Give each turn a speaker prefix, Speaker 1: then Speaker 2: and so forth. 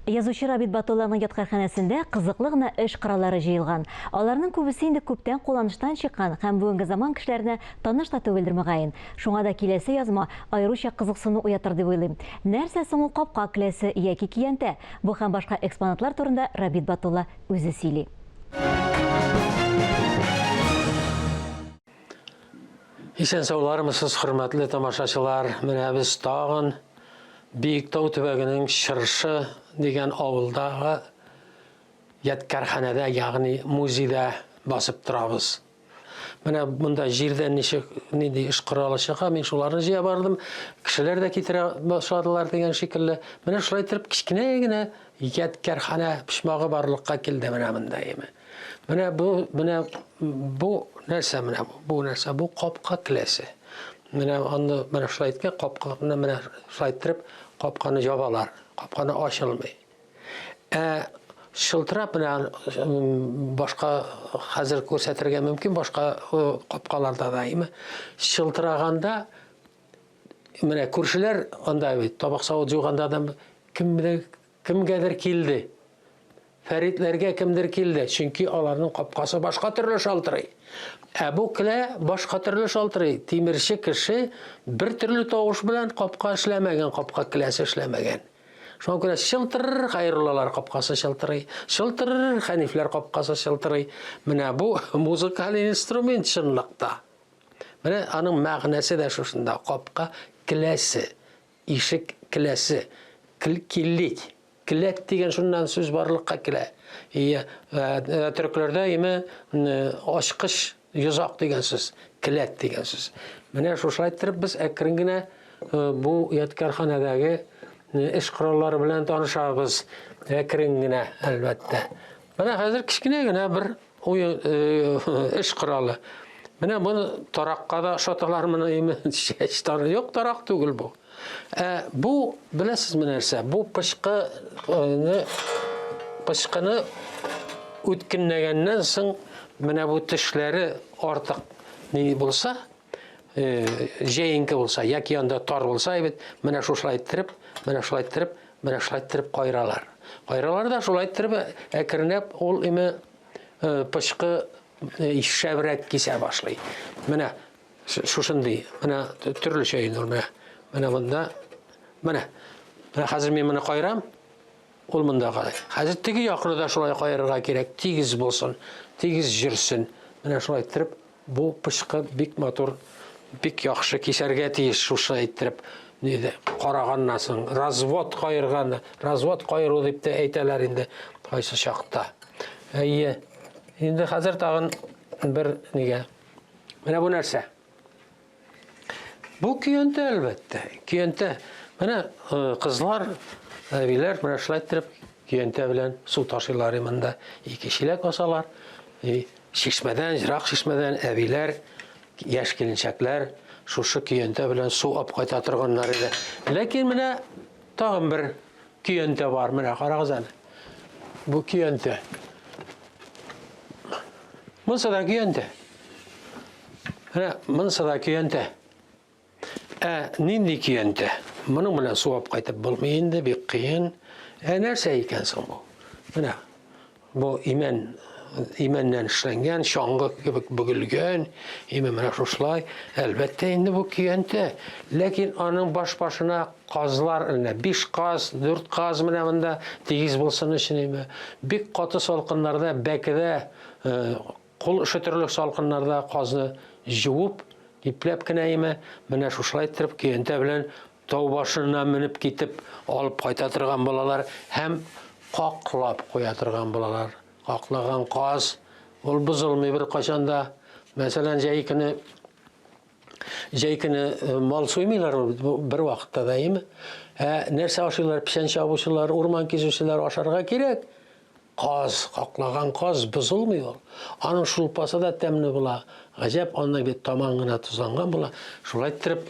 Speaker 1: Язучы Рабит Батулланың яткарханәсендә кызыклы гына эш кораллары җыелган. Аларның күбесе инде күптән кулланыштан чыккан һәм бүгенге заман кешеләренә таныш та түгелдер, мөгаен. Шуңа да киләсе язма аеруча кызыксыну уятыр дип уйлыйм. Нәрсә соң ул капка кләсе яки көянтә? Бу һәм башка экспонатлар турында Рабит Батулла үзе сөйли.
Speaker 2: Исән саулармысыз, хөрмәтле тамашачылар. Менә без тагын Биектау төбәгенең Чыршы дигән авылдагы ядкарханәдә, ягъни музейда басып торабыз. Менә монда җирдән ничек нинди эш коралы чыга, мин шуларны җыя бардым. Кешеләр дә китерә башладылар дигән шикелле. Менә шулай итеп кечкенә генә ядкарханә почмагы барлыкка килде менә монда име. Менә бу, менә бу нәрсә менә бу, бу нәрсә, бу капка келәсе. Менә аны менә шулай иткән капка, менә менә шулай иттереп капканы җабалар, капканы ачылмый. Ә шылтырап менә башка хәзер күрсәтергә мөмкин башка капкаларда да име шылтыраганда менә күршеләр анда бит табак савыт җуганда да кемдер Кемгәдер килде. Фәритләргә кемдер килде, чөнки аларның капкасы башка төрле шалтырый. Ә бу келә башка төрле шалтырый. Тимерче кеше бер төрле тавыш белән капка эшләмәгән, капка келәсе эшләмәгән. Шуңа күрә чылтырыр Хәйруллалар капкасы чылтырый, чылтырыр Хәнифләр капкасы чылтырый. Менә бу музыкаль инструмент чынлыкта. Менә аның мәгънәсе дә шушында, капка келәсе. Ишек келәсе, киллик, келәт дигән шуннан сүз барлыкка килә. Ие, э, төрекләрдә име ачкыч йозак дигән сүз, келәт дигән сүз. Менә шушылай иттереп без әкрен генә э, бу ядкарханәдәге э, эш кораллары белән танышабыз. Әкрен генә, әлбәттә. Менә хәзер кечкенә генә бер Уен эш коралы. Менә моны таракка да ошаталар моны име? Чәч тары юк, тарак түгел бу. Ә бу, беләсез менә нәрсә? Бу пычкыны пычкыны үткенләгәннән соң менә бу тешләре артык ни булса, җәенке булса, яки анда тар булса, әйбәт, менә шушылай иттереп, менә шулай иттереп, менә шулай иттереп кайралар. Кайралар да шулай иттереп әкренләп ул име пычкы шәбрәк кисә башлый. Менә шушындый, менә төрлечә инде ул менә. Менә монда. Менә. Менә хәзер мин моны кайрам. Ул монда карый. Хәзер теге якны да шулай каерырга кирәк, тигез булсын, тигез җөрсен. Менә шулай иттереп, бу пычкы бик матур, бик яхшы кисәргә тиеш шушы иттереп. Диде, караганнан соң, развод каерган, развод каеру дип тә әйтәләр инде кайсы чакта. Әйе. Инде хәзер тагын бер нигә. Менә бу нәрсә? Бу көянтә, әлбәттә, көянтә. Менә э, кызлар, әбиләр менә шулай иттереп көянтә белән су ташыйлар монда. Ике чиләк асалар. И чишмәдән, ерак чишмәдән әбиләр, яшь киленчәкләр шушы көянтә белән су алып кайта торганнар иде. Ләкин менә тагын бер Көянтә бар, менә карагыз әле. Бу көянтә. Монсы да көянтә. Менә монсы да көянтә. Ә нинди көянтә? Моның белән суап кайтып булмый инде, бик кыен. Ә нәрсә икән соң бу? Менә Бу имән имәннән эшләнгән, чаңгы кебек бөгелгән, имә менә шушылай. Әлбәттә инде бу көянтә, ләкин аның баш башына казлар өлнә. Биш каз, дүрт каз менә монда тигез булсын өчен имә. Бик каты салкыннарда, бәкедә, э, кул өшетерлек салкыннарда казны җуып, ипләп кенә имә, менә шушылай иттереп көянтә белән Тау башына менеп китеп алып кайта торган булалар һәм каклап куя торган булалар. Каклаган каз ул бозылмый беркайчан да. Мәсәлән, җәй көне җәй көне э, мал суймыйлар бер вакытта да, әйеме? Ә нәрсә ашыйлар? Печән чабучылар, урман кизүчеләр ашарга кирәк. Каз, каклаган каз бозылмый ул. Аның шулпасы да тәмле була. Гаҗәп, аннан бит таман гына тозланган була. Шулай иттереп